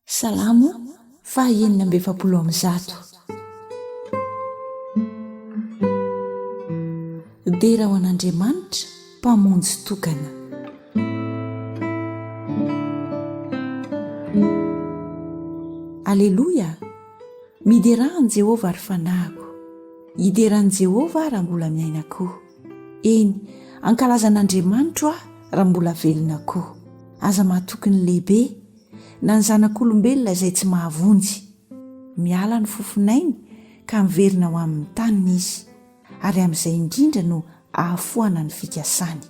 Salamo faha enina amby efapolo amby zato. Dera ho an'Andriamanitra mpamonjy tokana. Aleloia, miderà an'i Jehovah ry fanahiko, hidera an'i Jehovah aho raha mbola miaina koa. Eny, hankalazan'Andriamanitro aho raha mbola velona koa. Aza matoky ny lehibe. na ny zanak'olombelona izay tsy mahavonjy. Miala ny fofon'ainy ka miverina ho amin'ny taniny izy, ary amin'izay indrindra no ahafoana ny fikasany.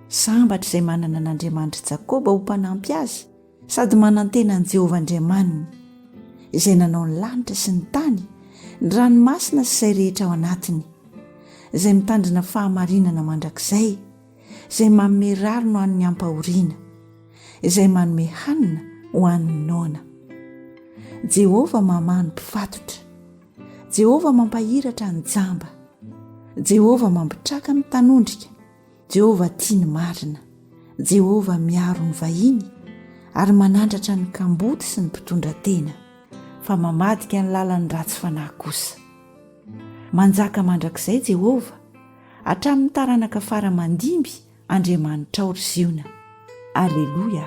Sambatra izay manana an'Andriamanitr'i Jakoba ho mpanampy azy sady manantena an'i Jehovah Andriamaniny, izay nanao ny lanitra sy ny tany, ny ranomasina sy izay rehetra ao anatiny, izay mitandrina fahamarinana mandrakizay, izay manome rariny ho an'ny ampahoriana, izay manome hanina ho an'ny noana. Jehovah mamaha ny mpifatotra. Jehovah mampahiratra ny jamba. Jehovah mampitraka ny tanondrika. Jehovah tia ny marina. Jehovah miaro ny vahiny ary manandratra ny kamboty sy ny mpitondra tena, fa mamadika ny lalan'ny ratsy fanahy kosa. Manjaka mandrakizay Jehovah Hatramin'ny taranaka fara aman-dimby Andriamanitrao ry Ziona. Aleloia.